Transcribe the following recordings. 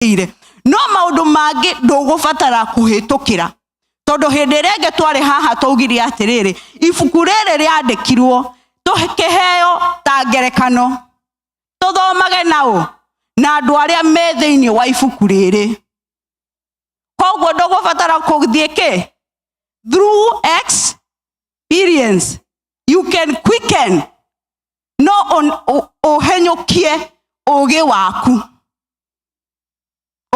ũhĩtũkĩire no maũndũ mangĩ ndũgũbatara kũhĩtũkĩra tondũ hĩndĩ ĩrĩa ĩngĩ twarĩ haha twaugire atĩrĩrĩ ibuku rĩrĩ rĩandĩkirwo tũkĩheo ta ngerekano tũthomage naũ na andũ arĩa me thĩinĩ wa ibuku rĩrĩ koguo ndũgũbatara kũthiĩ kĩ through experience you can quicken no ũhenyũkie ũgĩ waku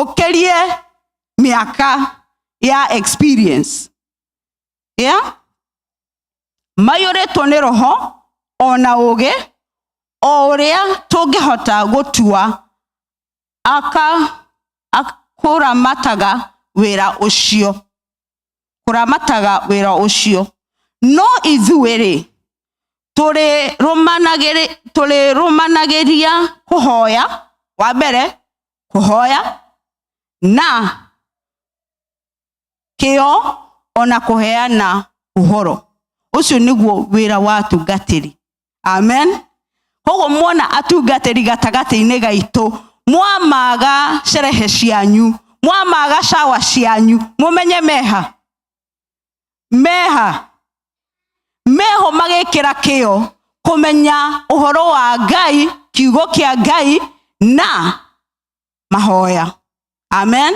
ũkĩrie mĩaka ya experience yeah? maiyũrĩtwo nĩ roho o na ũgĩ o ũrĩa tũngĩhota gũtua aka akũramataga wĩra ũcio kũramataga wĩra ũcio no ithuĩ-rĩ tũrĩrũmanagĩria kũhoya wa mbere kũhoya na kĩo ona kũheana ũhoro ũcio nĩguo wĩra wa atungatĩri. amen koguo mwona atungatĩri gatagatĩ-inĩ gaitũ mwamaga sherehe cianyu mwamaga shawa cianyu mũmenye meha meha meho magĩkĩra kĩo kũmenya ũhoro wa ngai kiugo kĩa ngai na mahoya amen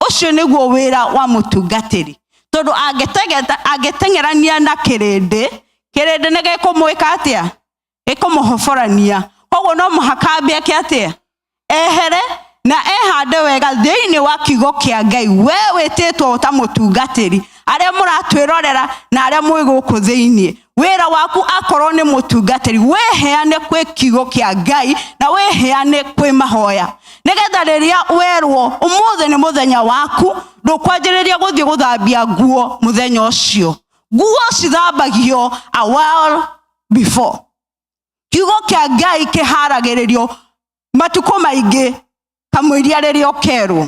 ũcio nĩguo wĩra wa mũtungatĩri tondũ angĩtegeta- angĩteng'erania na kĩrĩndĩ kĩrĩndĩ nĩ gĩkũmwĩka atĩa gĩkũmũhoborania koguo no mũhaka ambie ke atĩa ehere na ehande wega thĩinĩ wa kiugo kĩa ngai we wĩtĩtwo ta mũtungatĩri arĩa mũratwĩrorera na arĩa mwĩ gũkũ thĩinĩ wĩra waku akorwo nĩ mũtungatĩri wĩheane kwĩ kiugo kĩa ngai na wĩheane kwĩ mahoya nĩgetha rĩrĩa werwo ũmũthĩ nĩ mũthenya waku ndũkwanjĩrĩria gũthiĩ gũthambia nguo mũthenya ũcio nguo cithambagio a while before kiugo kĩa ngai kĩharagĩrĩrio matukũ maingĩ kamũiria rĩrĩa ũkerwo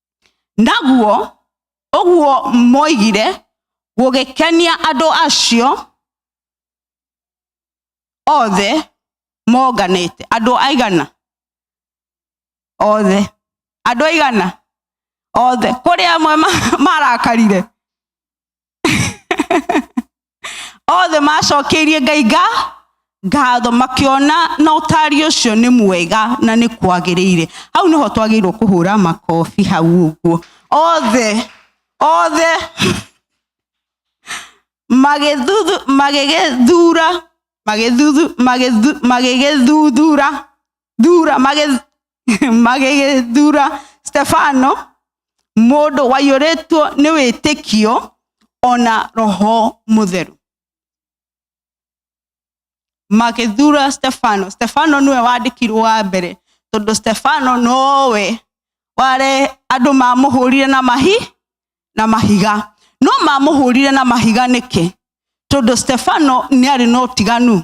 naguo ũguo moigire gũgĩkenia andũ acio othe monganĩte andũ aigana othe andũ aigana othe kũrĩ amwe ma- marakarire othe macokeirie ngai nga ngatho makiona na ũtari ũcio nĩ mwega na nĩ kwagĩrĩire hau nĩho twagĩrĩirwo kũhũra makobi hau ũguo othe othe magĩthuthu magĩgĩthura magĩthuthu magĩthu- magĩgĩthuthura thura magĩ- magĩgĩthura stefano mũndũ waiyũrĩtwo nĩ wĩtĩkio ona roho mũtheru magĩthura stefano stefano nĩwe wandĩkirwo wa mbere tondũ stefano nowe ware andũ mamũhũrire na mahi na mahiga no mamũhũrire na mahiga nĩkĩ tondũ stefano nĩ arĩ na ũtiganu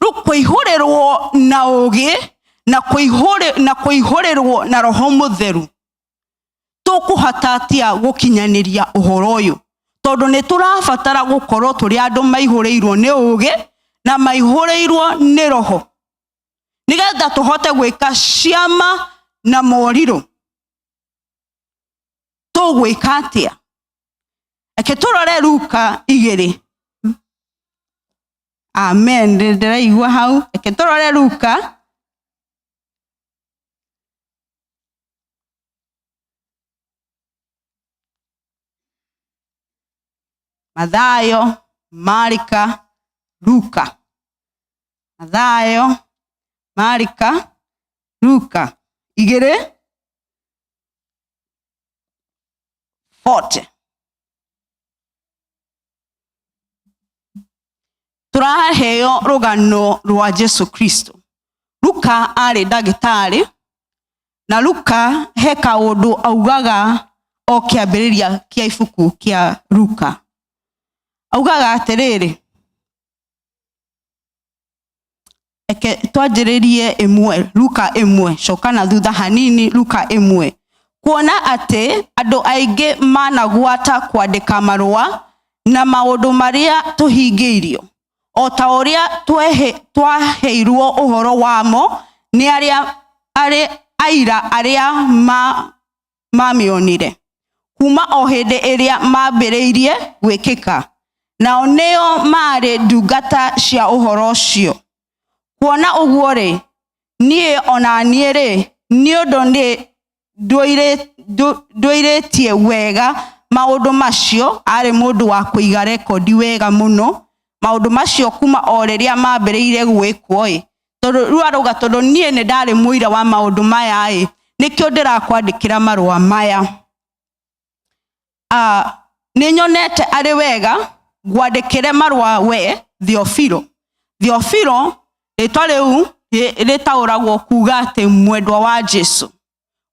rĩu kũihũrĩrwo na ũgĩ na kũihũrĩ- na kũihũrĩrwo na roho mũtheru tũkũhota atia gũkinyanĩria ũhoro ũyũ tondũ nĩ tũrabatara gũkorwo tũrĩ andũ maihũrĩirwo nĩ ũgĩ na maihũrĩirwo nĩ roho nĩgetha tũhote gwĩka ciama na morirũ tũgwĩka atĩa reke tũrore ruka igĩrĩ amen Ndĩ- ndĩraigua hau reke tũrore ruka mathayo marika ruka mathayo marika ruka igĩrĩ 40 tũraheo rũgano rwa jesu kristo luka arĩ ndagĩtarĩ na luka he kaũndũ augaga o kĩambĩrĩria kĩa ibuku kĩa luka augaga atĩrĩrĩ Reke twanjĩrĩrie ĩmwe luka ĩmwe coka na thutha hanini luka ĩmwe kuona atĩ andũ aingĩ managwata kwandĩka marũa na maũndũ marĩa tũhingĩirio o ta ũrĩa twehe- twaheirwo ũhoro wamo nĩ arĩa arĩ aira arĩa ma mamĩonire kuma o hĩndĩ ĩrĩa mambĩrĩirie gwĩkĩka nao nĩo maarĩ ndungata cia ũhoro ũcio kuona ũguo rĩ niĩ ona niĩ rĩ nĩ ũndũ nĩ ndũire- ndũ- ndũirĩtie wega maũndũ macio arĩ mũndũ wa kũiga rekondi wega mũno maũndũ macio kuma o rĩrĩa mambĩrĩire gwĩkwo ĩ tondũ rĩu arauga tondũ niĩ nĩ ndarĩ mũira wa maũndũ maya ĩ nĩkĩo ndĩrakwandĩkĩra marũa maya Ah, nĩ nyonete arĩ wega ngwandĩkĩre marũa we thiofiro thiofiro rĩtwa rĩu rĩ- rĩtaũragwo kuga atĩ mwendwa wa jesu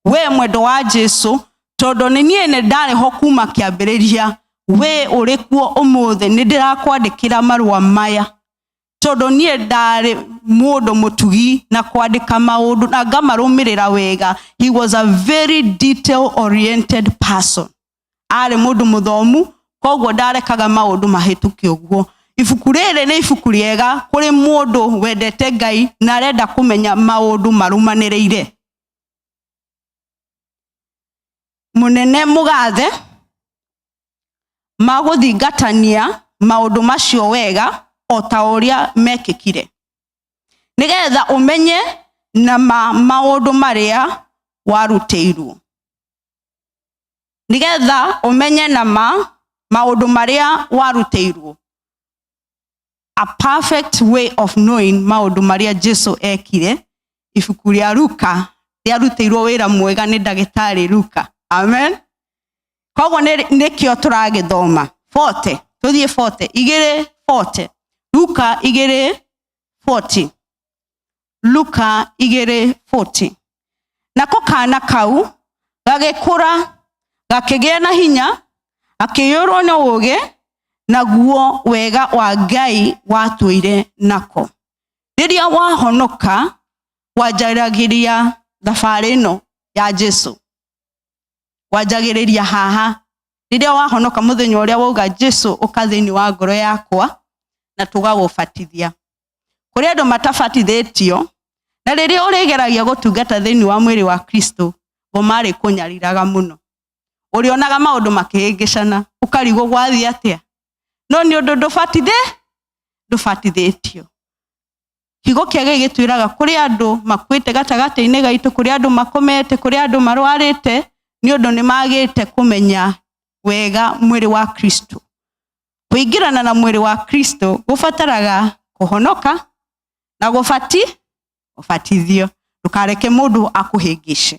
we mwendwa wa jesu tondũ nĩ niĩ nĩ ndarĩ ho kuma kĩambĩrĩria we ũrĩ kuo ũmũthĩ nĩ ndĩrakwandĩkĩra marũa maya tondũ niĩ ndarĩ mũndũ mũtugi na kwandĩka maũndũ na ngamarũmĩrĩra wega he was a very detail oriented person arĩ mũndũ mũthomu koguo ndarekaga maũndũ mahĩtũke ũguo ibuku rĩrĩ nĩ ibuku rĩega kũrĩ mũndũ wendete ngai na arenda kũmenya maũndũ marũmanĩrĩire mũnene mũgathe ma gũthingatania maũndũ macio wega o ta ũrĩa mekĩkire nĩ getha ũmenye na ma maũndũ marĩa warutĩirwo nĩ getha ũmenye na ma maũndũ marĩa warutĩirwo a perfect way of knowing maundu maria jesu ekire ibuku ria luka riarutĩirwo wĩra mwega nĩ ndagĩtarĩ luka amen koguo nĩ- nĩkĩo tũragĩthoma bote tũthiĩ bote igĩrĩ bote luka igĩrĩ 40 luka 2:14 nako kaana kau gagĩkũra gakĩgĩa na hinya akĩiyũrwo na ũũgĩ naguo wega wa ngai watũire nako rĩrĩa wahonoka wanjaragĩria thabarĩ ĩno ya jesu wanjagĩrĩria haha rĩrĩa wahonoka mũthenya ũrĩa wauga jesu ũka thĩinĩ wa ngoro yakwa na tũgagũbatithia kũrĩ andũ matabatithĩtio na rĩrĩa ũrĩgeragia gũtungata thĩinĩ wa mwĩrĩ wa kristo ngo marĩ kũnyariraga mũno ũrĩonaga maũndũ makĩhĩngĩcana ũkarigwo gwathiĩ atĩa no nĩ ũndũ ndũbatithĩ ndũbatithĩtio kiugo kĩa gĩi gĩtwĩraga kũrĩ andũ makuĩte gatagatĩ-inĩ gaitũ kũrĩ andũ makomete kũrĩ andũ marwarĩte nĩ ũndũ nĩ magĩte kũmenya wega mwĩrĩ wa kristo kũingĩrana na mwĩrĩ wa kristo gũbataraga kũhonoka na gũbati gũbatithio ndũkareke mũndũ akũhĩngĩce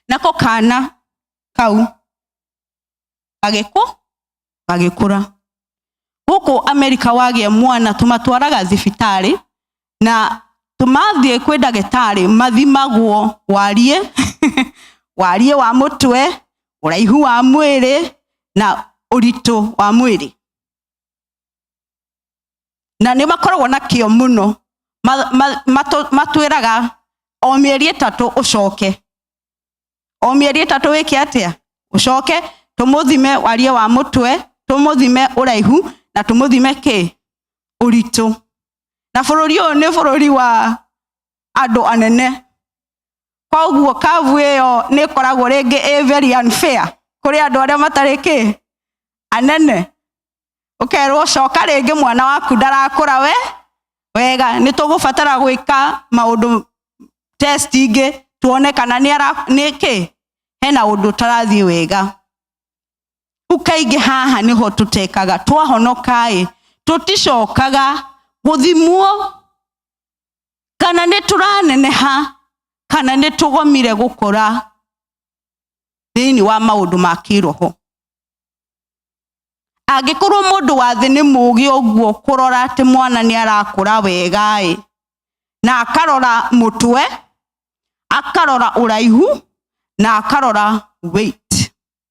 nako kana kau gagĩkũ gagĩkũra gũkũ amerika wagĩa mwana tũmatwaraga thibitarĩ na tũmathiĩ kwĩ ndagĩtarĩ mathimagwo wariĩ wariĩ wa mũtwe ũraihu wa mwĩrĩ na ũritũ wa mwĩrĩ na nĩ makoragwo na kĩo mũno Ma- ma- matũ- matwĩraga o mĩeri ĩtatũ ũcoke o mĩeri ĩtatũ wĩke atĩa ũcoke tũmũthime wariĩ wa mũtwe tũmũthime ũraihu na tũmũthime kĩ ũritũ na bũrũri ũyũ nĩ bũrũri wa andũ anene koguo kavu ĩyo nĩ ĩkoragwo rĩngĩ ĩ very unfair kũrĩ andũ arĩa matarĩ kĩ anene ũkerwo coka rĩngĩ mwana waku ndarakũra we wega nĩ tũgũbatara gwĩka maũndũ test ingĩ tuone kana nĩ ara nĩ kĩ hena ũndũ ũtarathiĩ wega rĩu kaingĩ haha nĩho tũtekaga twahonokaĩ tũticokaga gũthimwo kana nĩ tũraneneha kana nĩ tũgomire gũkora thĩinĩ wa maũndũ ma kĩroho angĩkorwo mũndũ wa thĩ nĩ mũũgĩ ũguo kũrora atĩ mwana nĩ arakũra wegaĩ na akarora mũtwe akarora ũraihu na akarora weight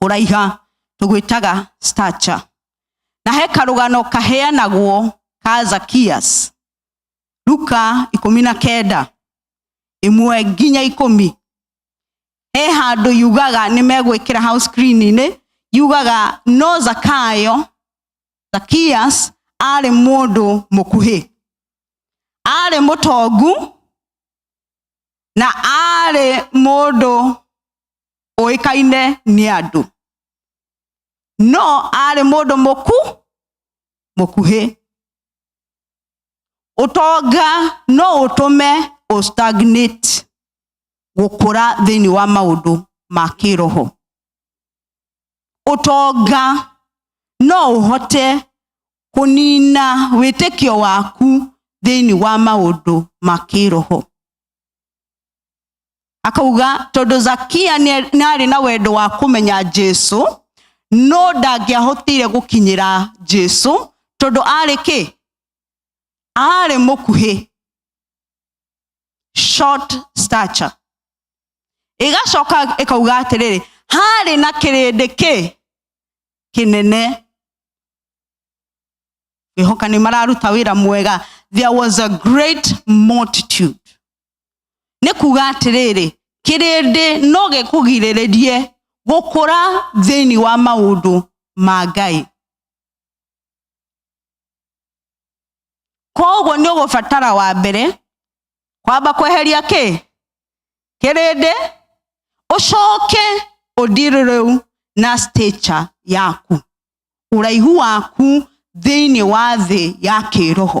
kũraiha tũgwĩtaga stature na he karũgano kaheanagwo ka zakias luka ikũmi na kenda ĩmwe nginya ikũmi he handũ yugaga nĩ megwĩkĩra hau screen-inĩ yugaga no zakayo zakias arĩ mũndũ mũkuhĩ arĩ mũtongu na arĩ mũndũ ũĩkaine nĩ andũ no arĩ mũndũ mũku mũkuhĩ ũtonga no ũtũme ũstagnate gũkũra thĩinĩ wa maũndũ ma kĩroho ũtonga no ũhote kũnina wĩtĩkio waku thĩinĩ wa maũndũ ma kĩroho akauga tondå zakia nĩ arĩ na wendo wa kũmenya jesu no ndangĩahotire gũkinyĩra jesu tondũ arĩ kĩ arĩ mũkuhĩ short stature ĩgacoka ĩkauga atĩrĩrĩ harĩ na kĩrĩndĩ kĩ kĩnene ngĩhoka nĩ mararuta wĩra mwega there was a great multitude nĩ kuga atĩrĩrĩ kĩrĩndĩ no gĩkũgirĩrĩrie gũkũra thĩinĩ wa maũndũ ma ngai koguo nĩ ũgũbatara wa mbere kwamba kweheria kĩ kĩrĩndĩ ũcoke ũndirũ rĩu na stature yaku ũraihu waku thĩinĩ wa thĩ ya kĩroho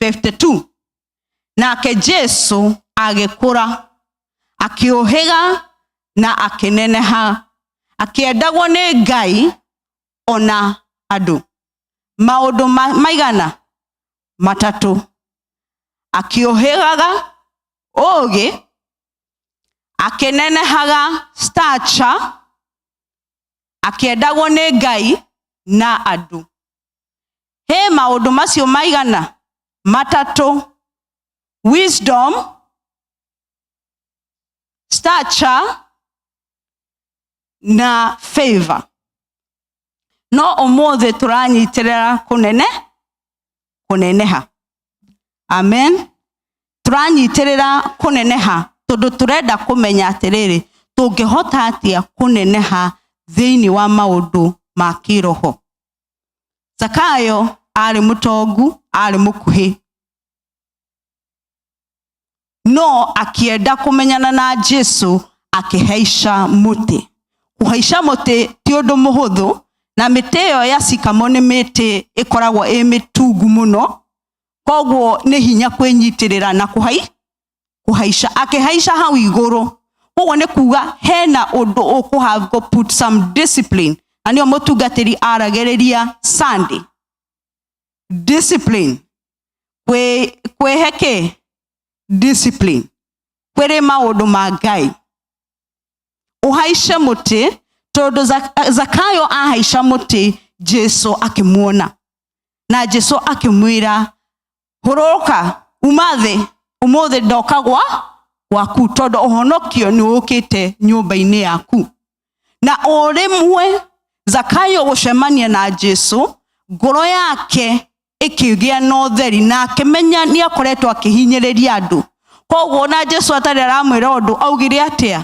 52 nake jesu agĩkũra akĩũhĩga na akĩneneha akĩendagwo nĩ ngai ona andũ maũndũ ma- maigana matatũ akĩũhĩgaga ũgĩ akĩnenehaga stature akĩendagwo nĩ ngai na andũ he maũndũ macio maigana matatũ wisdom stature na favor no ũmũthĩ tũranyitĩrĩra kũnene kũneneha amen tũranyitĩrĩra kũneneha tondũ tũrenda kũmenya atĩrĩrĩ tũngĩhota atĩa kũneneha thĩinĩ wa maũndũ ma kĩroho zakayo arĩ mũtongu arĩ mũkuhĩ no akĩenda kũmenyana na jesu akĩhaica mũtĩ kũhaica mũtĩ ti ũndũ mũhũthũ na mĩtĩ ĩyo ya cikamo nĩ mĩtĩ ĩkoragwo ĩ mĩtungu mũno koguo nĩ hinya kwĩnyitĩrĩra na kũhai kũhaica akĩhaica hau igũrũ koguo nĩ kuga hena ũndũ ũkũhango put some discipline na nĩo mũtungatĩri aragĩrĩria sunday discipline kwĩ- kwĩhe kĩ discipline kwĩrĩ maũndũ ma ngai ũhaice mũtĩ tondũ Zak- zakayo ahaica mũtĩ jesu akĩmuona na jesu akĩmwĩra hũrũka uma thĩ ũmũthĩ ndoka gwa gwaku tondũ ũhonokio nĩ ũkĩte nyũmba-inĩ yaku na ũrĩmwe zakayo gũcemania na jesu ngoro yake ĩkĩgĩa na ũtheri na akĩmenya nĩ akoretwo akĩhinyĩrĩria andũ koguo na jesu atarĩ aramwĩra ũndũ augire atĩa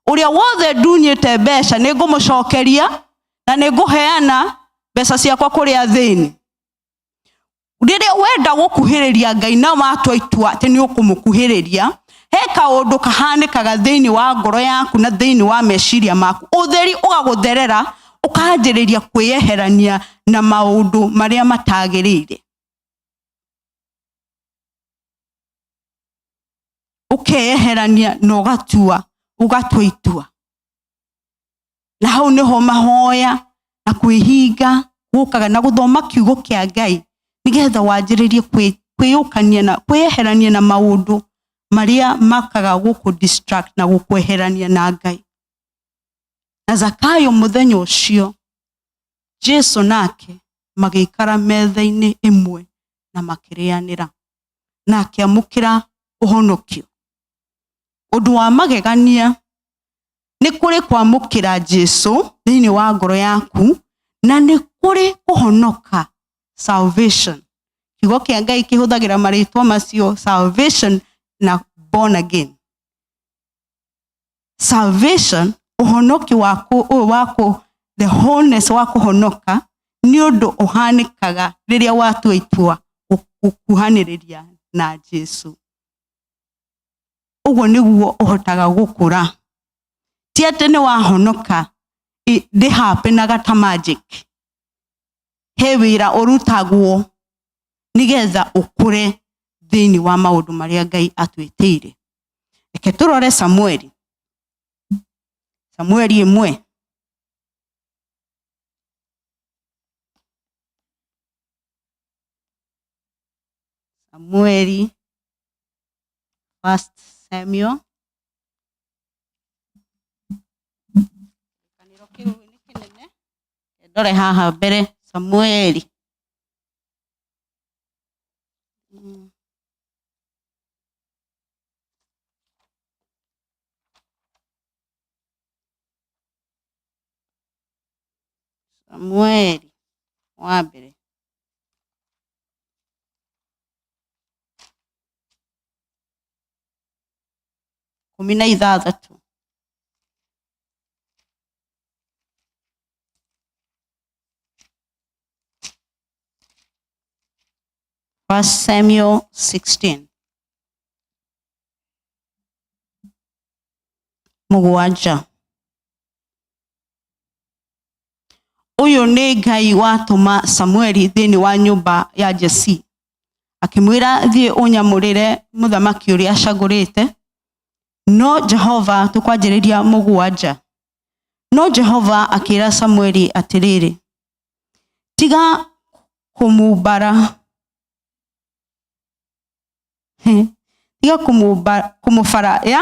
ũrĩa wothe ndunyĩte mbeca nĩ ngũmũcokeria na nĩ ngũheana mbeca ciakwa kũrĩ athĩni rĩrĩa wenda gũkuhĩrĩria ngai na watua itua atĩ nĩ ũkũmũkuhĩrĩria he kaũndũ kahanĩkaga thĩinĩ wa ngoro yaku na thĩinĩ wa meciria maku ũtheri ũgagũtherera ũkanjĩrĩria kwĩyeherania na maũndũ marĩa matagĩrĩire ũkeyeherania na ũgatua ũgatua itua na hau nĩho mahoya na kwĩhinga gũkaga na gũthoma kiugo kĩa ngai nĩgetha wanjĩrĩrie kwĩ- kwĩyũkania na kwĩyeherania na maũndũ marĩa makaga gũkũ distract na gũkweherania na ngai na zakayo mũthenya ũcio jesu nake magĩikara metha-inĩ ĩmwe na makĩrĩanĩra na akĩamũkĩra ũhonokio ũndũ wa magegania nĩ kũrĩ kwamũkĩra jesu thĩinĩ wa ngoro yaku na nĩ kũrĩ kũhonoka salvation kiugo kĩa ngai kĩhũthagĩra marĩtwa macio salvation na born again salvation ũhonoki waku ũyũ waku the wholeness wa kũhonoka nĩ ũndũ ũhanĩkaga rĩrĩa watua itua gũkuhanĩrĩria na jesu ũguo nĩguo ũhotaga gũkũra ti atĩ nĩ wahonoka i- ndĩ happy na gata magic he wĩra ũrutagwo nĩgetha ũkũre thĩinĩ wa maũndũ marĩa ngai atwĩtĩire reke tũrore samueli samueli ĩmwe samueli First Samuel kĩrĩkanĩro kĩu nĩ kĩnene ndore haha mbere samueli Mm. samueli wa mbere ikũmi na ithathatũ First Samuel 16. Mũgwanja. ũyũ nĩ ngai watũma samueli thĩinĩ wa nyũmba ya jesi akĩmwĩra thiĩ ũnyamũrĩre mũthamaki ũrĩa acagũrĩte no jehova tũkwanjĩrĩria mũgwanja no jehova akĩra samueli atĩrĩrĩ tiga kũmumbara tiga kũmũbara ya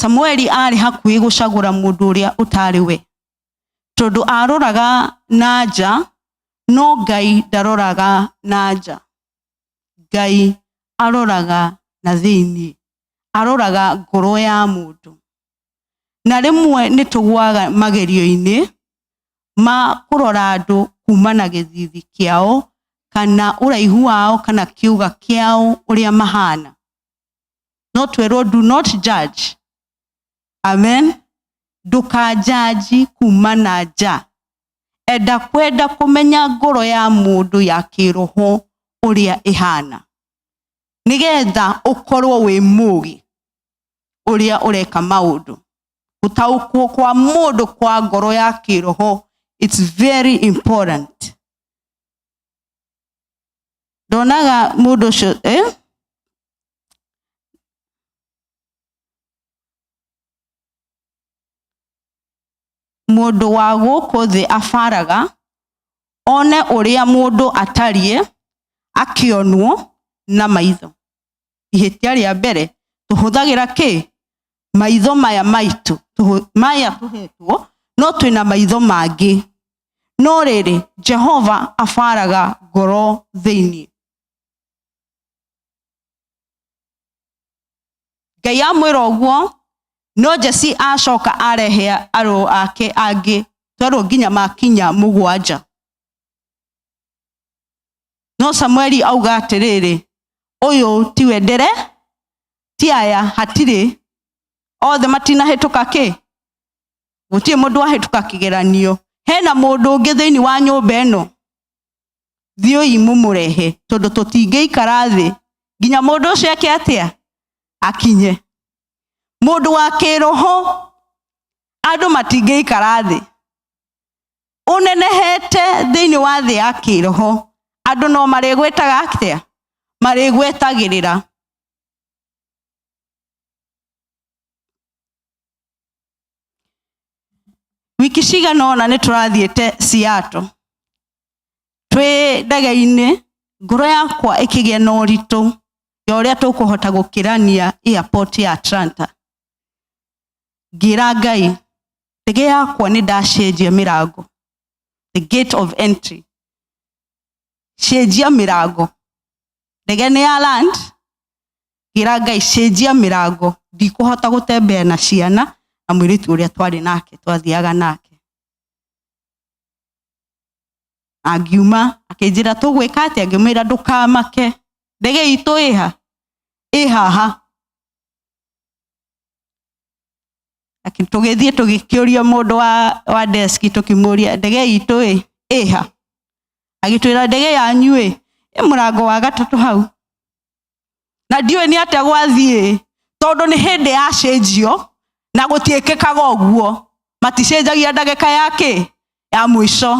samueli arĩ hakuhĩ gũcagũra mũndũ ũrĩa ũtarĩ we tondũ aroraga na nja no ngai ndaroraga na nja ngai aroraga na thĩinĩ aroraga ngoro ya mũndũ na rĩmwe nĩ tũgwaga magerio-inĩ ma kũrora andũ kuma na gĩthithi kĩao kana ũraihu wao kana kĩũga kĩao ũrĩa mahana not wero do not judge amen ndũkanjanji kuma na nja enda kwenda kũmenya ngoro ya mũndũ ya kĩroho ũrĩa ĩhana nĩgetha ũkorwo wĩ mũgĩ ũrĩa ũreka maũndũ gũtaũkwo kwa mũndũ kwa ngoro ya kĩroho it's very important ndonaga mũndũ ũcio eh? mũndũ wa gũkũ thĩ abaraga one ũrĩa mũndũ atariĩ akĩonwo na maitho ihĩtia rĩa mbere tũhũthagĩra kĩ maitho maya maitũ tũhũ- maya tũhetwo no twĩna maitho mangĩ no rĩrĩ jehova abaraga ngoro thĩinĩ ngai amwĩra ũguo no jesi acoka arehe arũ ake angĩ twerwo nginya makinya mũgwanja no samueli auga atĩrĩrĩ ũyũ tiwe ndere ti aya hatirĩ othe matinahĩtũka kĩ gũtirĩ mũndũ wahĩtũka kĩgeranio hena mũndũ ũngĩ thĩinĩ wa nyũmba ĩno thiũi mũmũrehe tondũ tũtingĩikara thĩ nginya mũndũ ũcio eke atĩa akinye mũndũ wa kĩroho andũ matingĩikara thĩ ũnenehete thĩinĩ wa thĩ ya kĩroho andũ no marĩgwĩtaga atĩa marĩgwetagĩrĩra wiki cigana ũna nĩ tũrathiĩte ciato twĩ ndege-inĩ ngoro yakwa ĩkĩgĩa na ũritũ ya ũrĩa tũkũhota gũkĩrania airport ya atlanta ngĩra ngai ndege yakwa nĩ ndacenjia mĩrango the gate of entry cenjia mĩrango ndege nĩ ya land ngĩra ngai cenjia mĩrango ndikũhota gũtembea na ciana na mwĩrĩtu ũrĩa twarĩ nake twathiaga nake angiuma akĩnjĩra tũgwĩka atĩa ngĩmwĩra ndũkamake ndege itũ ĩha ĩhaha tũgĩthiĩ tũgĩkĩũria mũndũ wa, wa deski tũkĩmũria ndege itũ ĩ ĩha agĩtwĩra ndege yanyu ĩ ĩ mũrango wa gatatũ hau na ndiũĩ nĩ atĩa gwathiĩ tondũ nĩ hĩndĩ yacenjio na gũtiĩkĩkaga ũguo maticenjagia ndagĩka ya kĩ ya mũico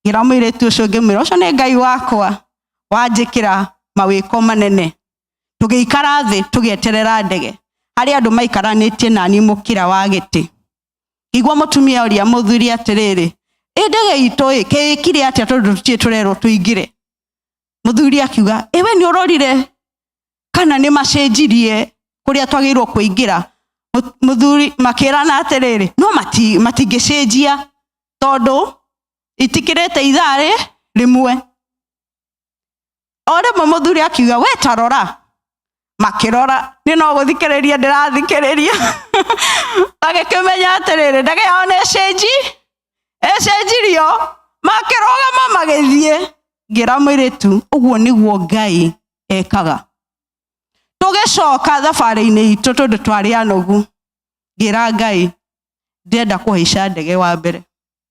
ngĩra mũirĩtu ũcio ngĩmwĩra ũcio nĩ ngai wakwa wanjĩkĩra mawĩko manene tũgĩikara thĩ tũgĩeterera ndege harĩ andũ maikaranĩtie nani mũkĩra wa gĩtĩ igua mũtumia ũria mũthuri atĩrĩrĩ ĩ ndege itũ ĩ kĩĩkire atĩa tondũ tũtirĩ tũrerwo tũingĩre mũthuri akiuga ĩ we nĩ ũrorire kana nĩ macenjirie kũrĩa twagĩrĩirwo kũingĩra Mũ- mũthuri makĩrana atĩrĩrĩ no mati- matingĩcenjia tondũ itikĩrĩte ithaa rĩ rĩmwe o rĩmwe mũthuri akiuga we tarora makĩrora nĩ no gũthikĩrĩria ndĩrathikĩrĩria agĩkĩmenya atĩrĩrĩ ndege yao nĩ cenji ĩcenjirio makĩrũgama magĩthiĩ ngĩra mwĩrĩtu ũguo nĩguo ngai ekaga tũgĩcoka thabarĩ-inĩ itũ tondũ twarĩ anogu ngĩra ngai ndĩrenda kũhaica ndege wa mbere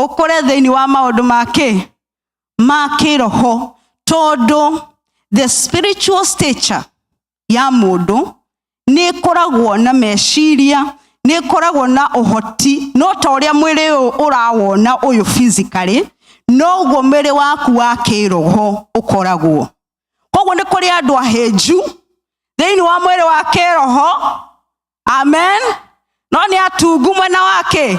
ũkũre thĩinĩ wa maũndũ ma kĩ ma kĩroho tondũ the spiritual stature ya mũndũ nĩ ĩkoragwo na meciria nĩ ĩkoragwo na ũhoti no ta ũrĩa mwĩrĩ ũyũ ũrawona ũyũ physically noguo mwĩrĩ waku wa kĩroho ũkoragwo koguo nĩ kũrĩ andũ ahĩnju thĩinĩ wa mwĩrĩ wa kĩroho amen no nĩ atungu mwena wake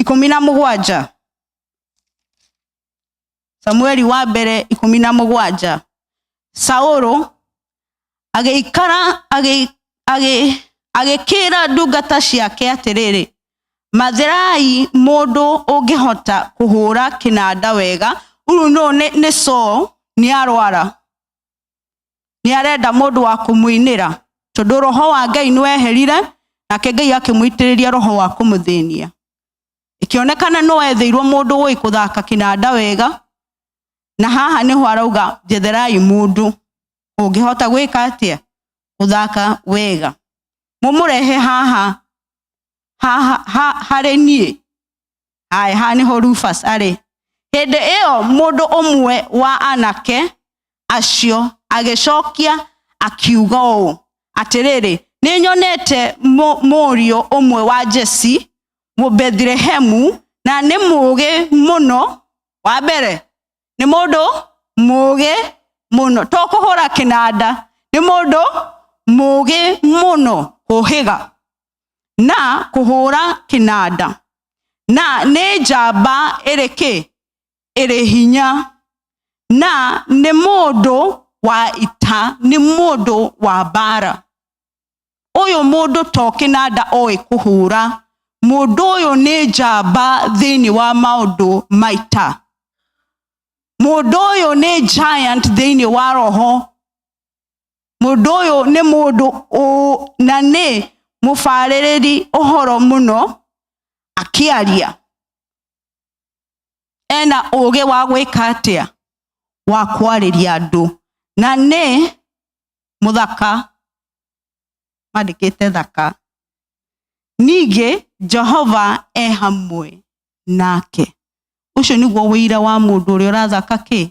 ikũmi na mũgwanja samueli wa mbere ikũmi na mũgwanja saũlũ agĩikara agĩ- agĩ- agĩkĩra ndungata ciake atĩrĩrĩ mathirai mũndũ ũngĩhota kũhũra kĩnanda wega rĩu no nĩ, nĩ Saul nĩ arwara nĩ arenda mũndũ wa kũmũinĩra tondũ roho wa ngai nĩ weherire nake ngai akĩmũitĩrĩria roho wa kũmũthĩnia ĩkĩonekana nĩ wethĩirwo mũndũ ũĩ kũthaka kĩnanda wega na haha nĩho arauga njetherai mũndũ ũngĩhota gwĩka atĩa gũthaka wega mũmũrehe haha haha ha- harĩ niĩ haya haha nä ho rufas arä hä ndä ä yo må ndå å mwe wa anake acio agĩcokia akiuga ũũ atĩrĩrĩ nĩ nyonete mũ- mũriũ ũmwe wa jesi mũbethilehemu na nĩ mũũgĩ mũno wa mbere nĩ mũndũ mũũgĩ mũno to kũhũra kĩnanda nĩ mũndũ mũũgĩ mũno kũhĩga na kũhũra kĩnanda na nĩ njamba ĩrĩ kĩ ĩrĩ hinya na nĩ mũndũ wa ita nĩ mũndũ wa mbara ũyũ mũndũ to kĩnanda oĩ kũhũra mũndũ ũyũ nĩ njamba thĩinĩ wa maũndũ maita mũndũ ũyũ nĩ giant thĩinĩ wa roho mundu uyu ni mundu na ni mubaririri uhoro muno akiaria ena uge wa gwika atia wa kwariria andu na ni muthaka mandikite thaka ningĩ jehova e hamwe nake ũcio nĩguo wĩira wa mũndũ ũrĩa ũrathaka kĩ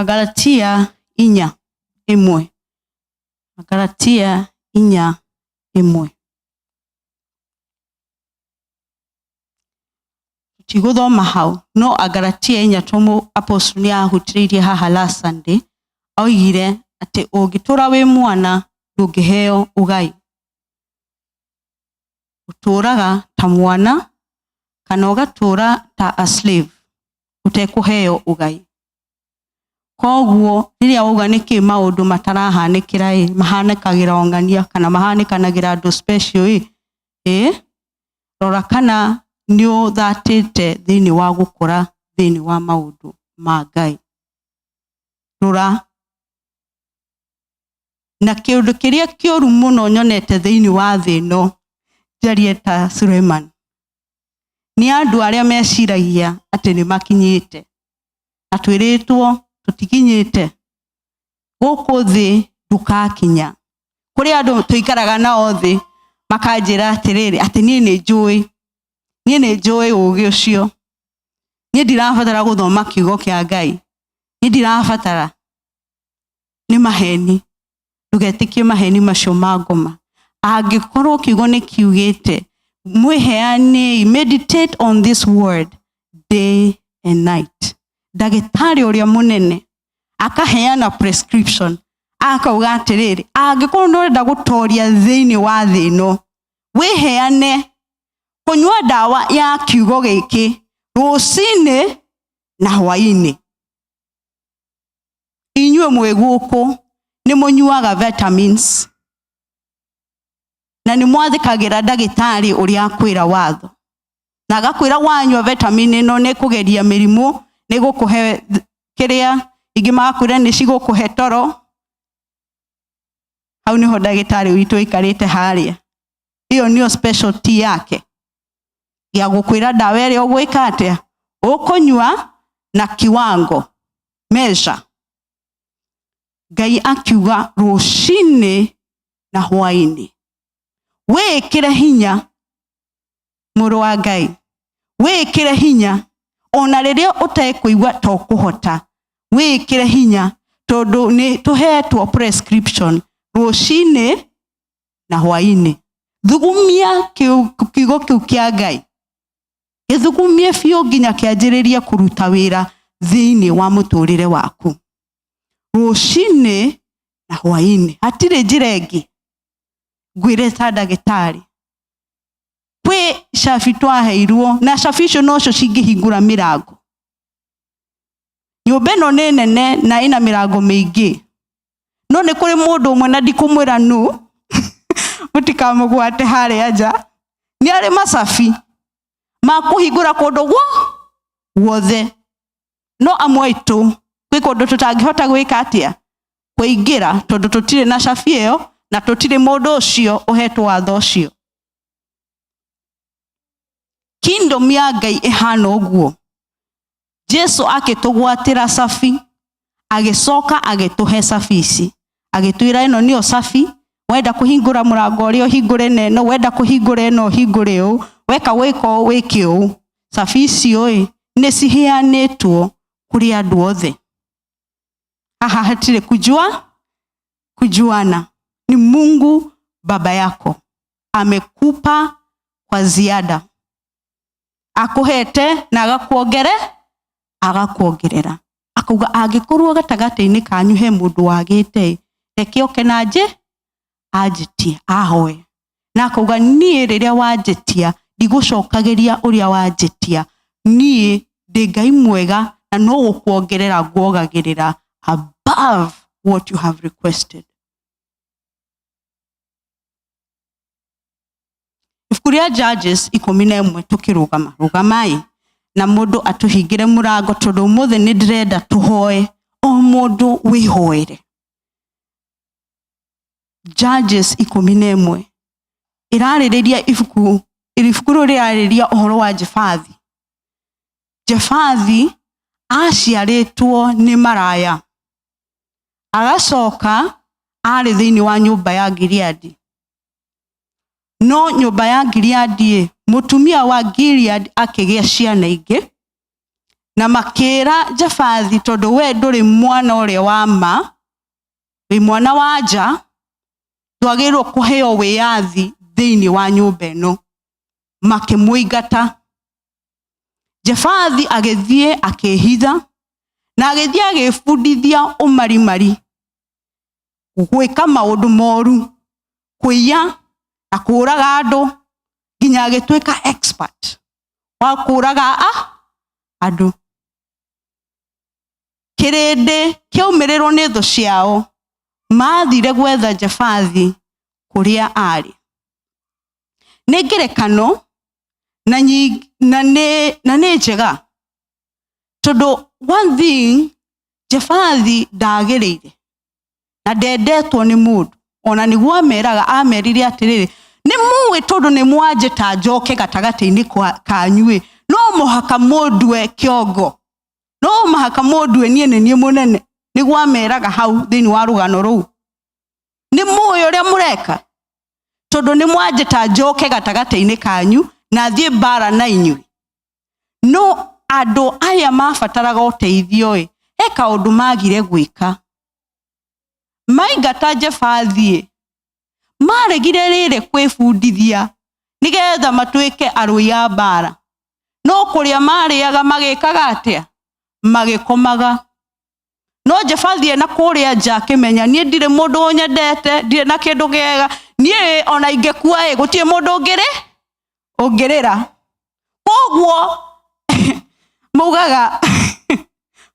agalatia inya ĩmwe agalatia inya ĩmwe tigũthoma hau no agalatia inya tũmũ apostle nĩ ahutĩrĩirie haha last sunday oigire atĩ ũngĩtũra wĩ mwana ndũngĩheo ũgai ũtũũraga ta mwana kana ũgatũũra ta a slave ũtekũheo ũgai koguo rĩrĩa wauga nĩkĩ maũndũ matarahanĩkĩra ĩ mahanĩkagĩra ong'ania kana mahanĩkanagĩra andũ special ĩ ĩ rora kana nĩ ũthatĩte thĩinĩ wa gũkũra thĩinĩ wa maũndũ ma ngai rora na kĩũndũ kĩrĩa kĩũru mũno nyonete thĩinĩ wa thĩ ĩno njarie ta Suleiman nĩ andũ arĩa meciragia atĩ nĩ makinyĩte na twĩrĩtwo tũtikinyĩte gũkũ thĩ ndũkakinya kũrĩ andũ tũikaraga nao thĩ makanjĩra atĩrĩrĩ atĩ niĩ nĩ njũĩ niĩ nĩ njũĩ ũgĩ ũcio niĩ ndirabatara gũthoma kiugo kĩa ngai niĩ ndirabatara nĩ maheni ndũgetĩkie maheni macio ma ngoma angĩkorwo kiugo nĩ kiugĩte mwĩheanei meditate on this word day and night ndagĩtarĩ ũrĩa mũnene akaheana prescription akauga atĩrĩrĩ angĩkorwo nĩ ũrenda gũtoria thĩinĩ wa thĩ ĩno wĩheane kũnyua ndawa ya kiugo gĩkĩ rũcinĩ na hwainĩ inyuĩ mwĩ gũkũ nĩ mũnyuaga vitamins na nĩ mwathĩkagĩra ndagĩtarĩ ũrĩa akwĩra watho na agakwĩra wanyua vitamin ĩno nĩ kũgeria mĩrimũ nĩ gũkũhe th- kĩrĩa ingĩ magakwĩra nĩ cigũkũhe toro hau nĩho ndagĩtarĩ witũ aikarĩte harĩa ĩyo nĩyo specialty yake gĩa gũkwĩra ndawa ĩrĩa ũgwĩka atĩa ũkũnyua na kiwango measure ngai akiuga rũcinĩ na hwainĩ wĩkĩre hinya mũrũ wa ngai wĩkĩre hinya ona rĩrĩa ũtekũigua to kũhota wĩkĩre hinya tondũ nĩ tũhetwo prescription rũcinĩ na hwainĩ thugumia kĩu- kiugo kĩu kĩa ngai gĩthugumie biũ nginya kĩanjĩrĩrie kũruta wĩra thĩinĩ wa mũtũrĩre waku rũcinĩ na hwainĩ hatirĩ njĩra ĩngĩ ngwĩre ta ndagĩtarĩ kwĩ cabi twaheirwo na cabi icio nocio cingĩhingũra mĩrango nyũmba ĩno nĩ nene na ĩna mĩrango mĩingĩ no nĩ kũrĩ mũndũ ũmwe na ndikũmwĩra nu mũtikamũgwate harĩa nja nĩ arĩ macabi ma kũhingũra kũndũ guo guothe no amwe aitũ gwĩ kũndũ tũtangĩhota gwĩka atĩa kũingĩra tondũ tũtirĩ na cabi ĩyo na tũtirĩ mũndũ ũcio ũhetwo watho ũcio kingdom ya ngai ĩhana ũguo jesu agĩtũgwatĩra cabi agĩcoka agĩtũhe cabi ici agĩtwĩra ĩno nĩyo cabi wenda kũhingũra mũrango ũrĩa ũhingũre na ĩno wenda kũhingũra ĩno ũhingũre ũũ weka wĩka ũũ wĩke ũũ cabi icio ĩ nĩ ciheanĩtwo kũrĩ andũ othe haha hatirĩ kujua kujuana ni mungu baba yako amekupa kwa ziada akuhete na agakuongere agakuongerera akauga angĩkorwo gatagatĩ-inĩ kanyu he mũndũ wagĩte reke oke na njĩ anjĩtie ahoe na akauga niĩ rĩrĩa wanjĩtia ndigũcokagĩria ũrĩa wanjĩtia niĩ ndĩ ngai mwega na no gũkuongerera nguogagĩrĩra above what you have requested ibuku rĩa judges ikũmi na ĩmwe tũkĩrũgama rũgamai na mũndũ atũhingĩre mũrango tondũ ũmũthĩ nĩ ndĩrenda tũhoe o mũndũ wĩhoere judges ikũmi na ĩmwe ĩrarĩrĩria ibuku ibuku rĩu rĩrarĩrĩria ũhoro wa jefathi jefathi aciarĩtwo nĩ maraya agacoka arĩ thĩinĩ wa nyũmba ya Gileadi no nyũmba ya Gileadi ĩ mũtumia wa Gilead akĩgĩa ciana ingĩ na makĩra Jafathi tondũ we ndũrĩ mwana ũrĩa wa ma wĩ mwana wa nja twagĩrĩirwo kũheo wĩyathi thĩinĩ wa nyũmba ĩno makĩmũingata jefathi agĩthiĩ akĩĩhitha na agĩthiĩ agĩĩbundithia ũmarimari gwĩka maũndũ moru kũiya na kũũraga andũ nginya agĩtuĩka expert wa kũũraga a andũ kĩrĩndĩ kĩaumĩrĩrwo nĩ thũ ciao maathire gwetha jefathi kũrĩa aarĩ nĩ ngerekano na nyi- na nĩ na nĩ njega tondũ one thing jebathi ndagĩrĩire na ndendetwo nĩ mũndũ ona nĩguo ameraga amerire atĩrĩrĩ nĩ mũĩ tondũ nĩ mwanjĩta njoke gatagatĩ-inĩ kwa- kanyu-ĩ no mũhaka mũndue kĩongo no mũhaka mũndue niĩ nĩ niĩ mũnene nĩguo ameraga hau thĩinĩ wa rũgano rũu nĩ mũĩ ũrĩa mũreka tondũ nĩ mwanjĩta njoke gatagatĩ-inĩ kanyu na thiĩ mbara na inyuĩ no andũ aya mabataraga ũteithio ĩ he kaũndũ magire gwĩka maingata jebathiĩ maregire rĩrĩ kwĩbundithia nĩgetha matuĩke arũi a mbara no kũrĩa marĩaga magĩkaga atĩa magĩkomaga no njabathie na kũrĩa nja akĩmenya niĩ ndirĩ mũndũ nyendete ndirĩ na kĩndũ gĩega niĩ ona ingĩkua ĩ gũtirĩ mũndũ ũngĩrĩ ũngĩrĩra koguo maugaga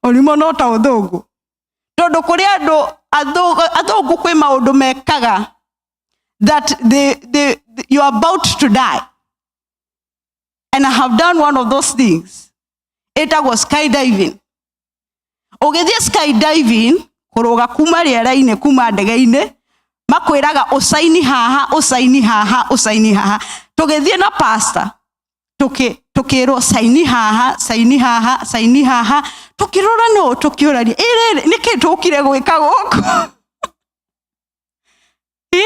ũrimũ no ta ũthũngũ tondũ kũrĩ andũ athũ- athũngũ kwĩ maũndũ mekaga that they, they, you are about to die and i have done one of those things ĩtagwo skydiving ũgĩthiĩ skydiving kũrũga kuma rĩera-inĩ kuma ndege-inĩ makwĩraga ũcaini haha ũcaini haha ũcaini haha tũgĩthiĩ na pasta tũkĩ- tũkĩrwo caini haha caini haha caini haha tũkĩrora no tũkĩũrania "Ĩ rĩrĩ nĩkĩ tũkire gwĩka gũkũ Ĩ?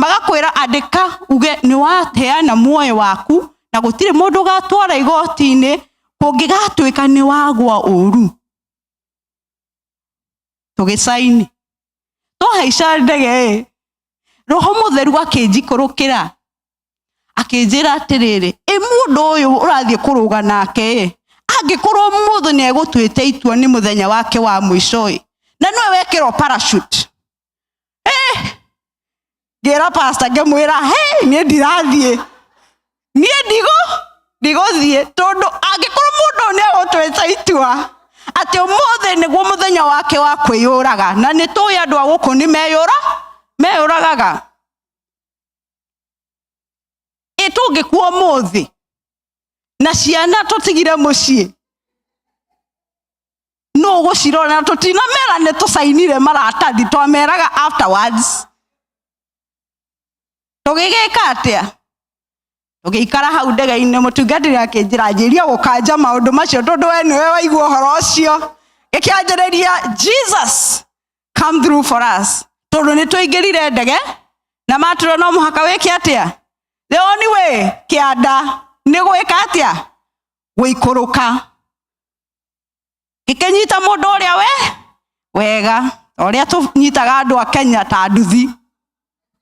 magakwĩra andĩka uge nĩ wateana muoyo waku na gũtirĩ mũndũ ũgatwara igoti-inĩ kũngĩgatuĩka nĩ wagwa ũru tũgĩcaini twahaica ndege ĩ roho mũtheru akĩnjikũrũkĩra akĩnjĩra atĩrĩrĩ ĩ mũndũ ũyũ ũrathiĩ kũrũga nake ĩ angĩkorwo mũndũ nĩ egũtuĩte itua nĩ mũthenya wake wa mũico ĩ na nĩwe wekĩrwo parachute ngĩra pasta ngĩmwĩra hey niĩ ndirathiĩ niĩ ndigũ ndigũthiĩ tondũ angĩkorwo mũndũ nĩ egũtwĩta itua atĩ ũmũthĩ nĩguo mũthenya wake wa kwĩyũraga na nĩ tũĩ andũ a gũkũ nĩ meyũra meyũragaga ĩ tũngĩkuo mũthĩ na ciana tũtigire mũciĩ no gũcirorera tũtinamera nĩ tũcainire maratathi twameraga afterwards tũgĩgĩka atĩa tũgĩikara hau ndege-inĩ mũtungatĩri akĩnjĩra njĩria gũkanja maũndũ macio tondũ we nĩwe waigua ũhoro ũcio gĩkĩanjĩrĩria jesus come through for us tondũ nĩ twaingĩrire ndege na matũra no mũhaka wĩke atĩa the only way kĩanda nĩ gwĩka atĩa gũikũrũka gĩkĩnyita mũndũ ũrĩa we wega ta ũrĩa tũnyitaga andũ a kenya ta nduthi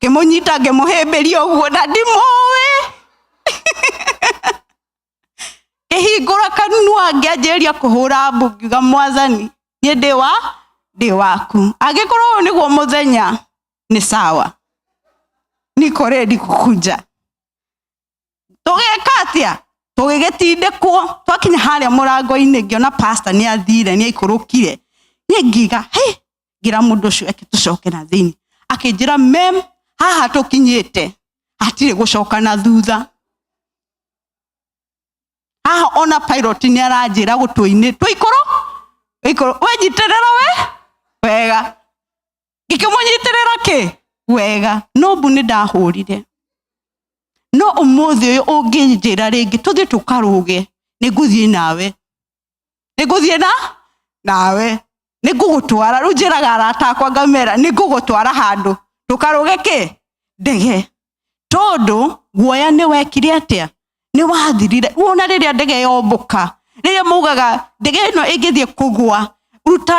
ngĩmũnyita ngĩmũhĩmbĩria ũguo na ndimũĩ ngĩhingũra kanua ngĩanjĩrĩria kũhũra mbu ngiuga mwathani niĩ ndĩ wa ndĩ waku angĩkorwo ũyũ nĩguo mũthenya nĩ sawa niko rendi kukunja tũgĩka atĩa tũgĩgĩtindĩkwo twakinya harĩa mũrango-inĩ ngĩona pasta nĩ athire nĩ aikũrũkire niĩ ngiga hĩ ngira mũndũ ũcio eke tũcoke na thĩinĩ akĩnjĩra mem haha tũkinyĩte hatirĩ gũcoka na thutha haha ona pilot nĩ aranjĩra gũtũinĩ tũikũrũ ikũrũ wenjitĩrĩra we wega ngĩkĩmũnyitĩrĩra kĩ wega no mbu nĩ ndahũrire no ũmũthĩ ũyũ ũngĩnjĩra rĩngĩ tũthiĩ tũkarũge nĩ ngũthiĩ nawe nĩ ngũthiĩ na nawe nĩ ngũgũtwara rĩu njĩraga arata akwa ngamera nĩ ngũgũtwara handũ tũkarũge kĩ ndege tondũ guoya nĩ wekire atĩa nĩ wathirire rĩu ona rĩrĩa ndege yombũka rĩrĩa maugaga ndege ĩno ĩngĩthiĩ kũgwa ruta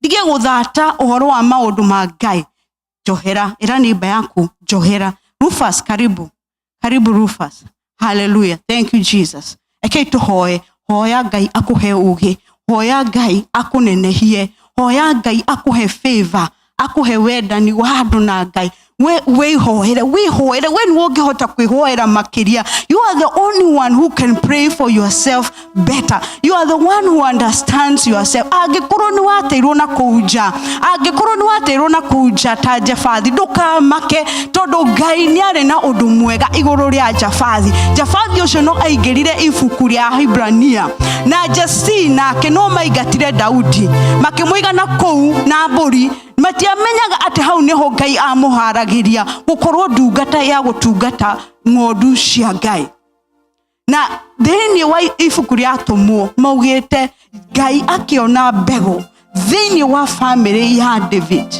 ndige gũthata ũhoro wa maũndũ ma ngai njohera ĩra nĩmba yaku njohera rufus karibu karibu rufus haleluya thank you jesus ekei tũhoe hoya ngai akũhe ũgĩ hoya ngai akũnenehie hoya ngai akũhe favor akũhe wendani wa andũ na ngai we wĩhoere wĩhoere we nĩwe ũngĩhota kwĩhoera makĩria you are the only one who can pray for yourself better you are the one who understands yourself angĩkorwo nĩ wateirwo na kũu nja angĩkorwo nĩ wateirwo na kũu nja ta njabathi ndũkamake tondũ ngai nĩ arĩ na ũndũ mwega igũrũ rĩa njabathi njabathi ũcio no aingĩrire ibuku rĩa hibrania na jesi nake no maingatire daudi makĩmũiga na kũu na mbũri matiamenyaga atĩ hau nĩho ngai amũharagĩria gũkorwo ndungata ya gũtungata ng'ondu cia ngai na thĩinĩ wa ibuku rĩa tũmwo maugĩte ngai akĩona mbegũ thĩinĩ wa bamĩrĩ ya david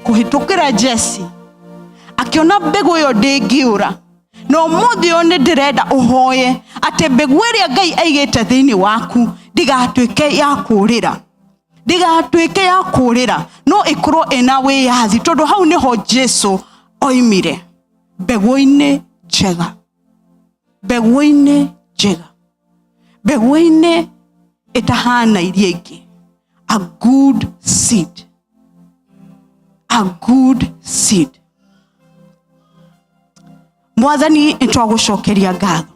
kũhĩtũkĩra jesi akĩona mbegũ ĩyo ndĩngĩũra na ũmũthĩ ũyũ nĩ ndĩrenda ũhoye atĩ mbegũ ĩrĩa ngai aigĩte thĩinĩ waku ndigatuĩke ya kũũrĩra ndĩgatuĩke ya kũrĩra no ĩkorwo ĩna wĩyathi tondũ hau nĩho jesu oimire mbegũ-inĩ njega mbegũ-inĩ njega mbegũ-inĩ ĩtahana iria ingĩ a good seed a good seed mwathani nĩtwagũcokeria ngatho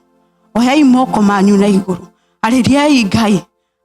oyai moko manyu na igũrũ arĩriai ngai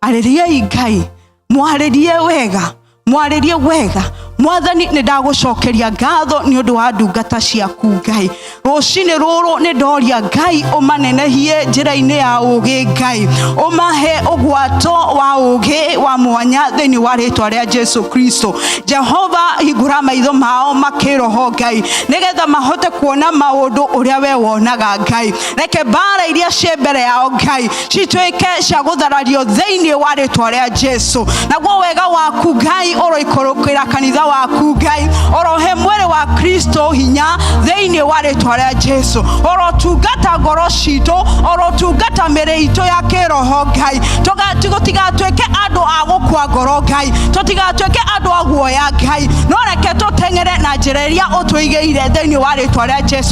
arĩriai ngai mwarĩrie wega mwarĩrie wega mwathani nĩ ndagũcokeria ngatho nĩ ũndũ wa ndungata ciaku ngai rũcinĩ rũrũ nĩ ndoria ngai ũmanenehie njĩra-inĩ ya ũgĩ ngai ũmahe ũgwato wa ũgĩ wa mwanya thĩinĩ wa rĩtwa rĩa jesu kristo jehova hingũra maitho mao makĩroho ngai nĩgetha mahote kuona maũndũ ũrĩa we wonaga ngai reke mbara iria ciĩ mbere yao ngai cituĩke cia gũtharario thĩinĩ wa rĩtwa rĩa jesu naguo wega waku ngai ũroikũrũkĩra kanitha waku ngai orohe mwĩrĩ wa kristo hinya thĩinĩ wa rĩtwa rĩa jesu orotungata ngoro citũ orotungata mĩrĩ itũ ya kĩroho ngai tũtigatuĩke andũ a gũkua ngoro ngai tũtigatuĩke andũ a guoya ngai no reke tũteng'ere na njĩra iria ũtũigĩire thĩinĩ wa rĩtwa rĩa jesu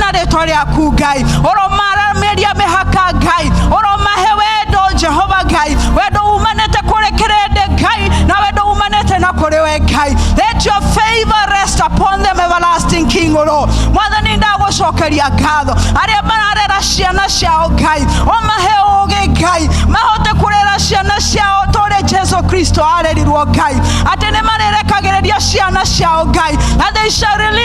na rĩtwa rĩaku ngai ũromarameria mĩhaka ngai ũromahe wendo jehova ngai wendo umanĩte kũrĩ kĩrĩndĩ ngai na wendo umanĩte na kũrĩ we ngai let your favor rest upon them everlasting king o Lord mwathani ndagũcokeria ngatho arĩa mararera ciana ciao ngai ũmahe ũgĩ ngai mahote kũrera ciana ciao tũrĩ jesu kristo arerirwo ngai atĩ nĩ marĩrekagĩrĩria ciana ciao ngai and they shall release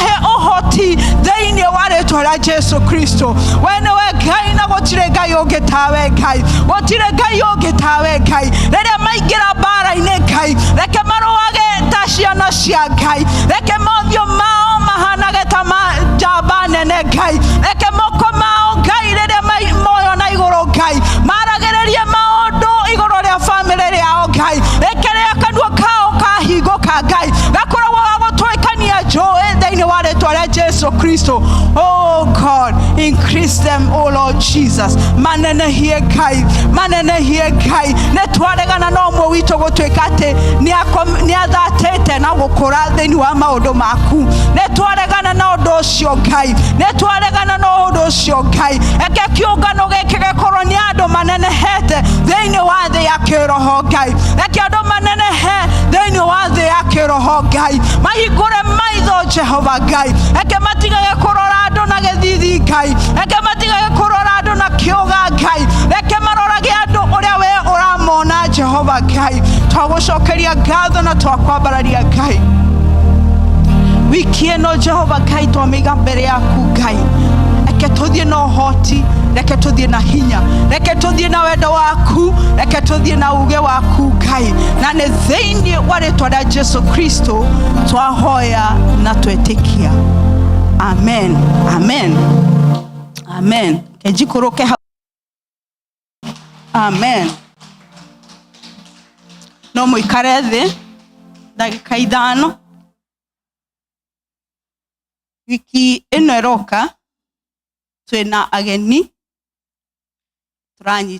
he ũhoti thĩinĩ wa rĩtwa rĩa jesu kristo we nĩwe ngai na gũtirĩ ngai ũngĩ tawe ngai gũtirĩ ngai ũngĩ tawe ngai rĩrĩa maingĩra mbara-inĩ ngai reke marũage ta ciana cia ngai reke mothiũ mao mahanage ta ma njamba nene ngai reke moko mao ngai rĩrĩa mai- moyo na igũrũ ngai maragĩrĩrie maũndũ igũrũ rĩa bamĩrĩ rĩao ngai reke rĩa kanua kao kahingũka ngai gakoragwo ga gũtũĩka Hallelujah, Joel, they know what it was, Jesus Christ. Oh God, increase them, oh Lord Jesus. Manene hie kai, manene hie kai. Ne twaregana na ũmwe witũ gũtuĩka atĩ nĩathatĩte na gũkũra thĩinĩ wa maũndũ maku. Ne twaregana na ũndũ ũcio Ngai, ne twaregana na ũndũ ũcio Ngai. Eke kĩũngano gĩkĩ gĩkorwo nĩ andũ manenehete thĩinĩ wa thĩ ya kĩroho Ngai. Eke andũ manene he thĩinĩ wa thĩ ya kĩroho ngai mahingũre maitho jehova ngai eke matigage kũrora andũ na gĩthithi ngai eke matigage kũrora andũ na kĩũga ngai reke marorage andũ ũrĩa we ũramona jehova ngai twagũcokeria ngatho na twakwambararia ngai wiki ĩno jehova ngai twamĩiga mbere yaku ngai reke tũthiĩ na ũhoti reke tũthiĩ na hinya reke tũthiĩ na wendo waku reke tũthiĩ na uge waku ngai na nĩ thĩinĩ wa rĩtwa rĩa jesu kristo twahoya na twetĩkia amen amen amen kenjikũrũke hau amen no mũikare thĩ ndagĩka ithano wiki ĩno ĩroka twĩna ageni tũranyita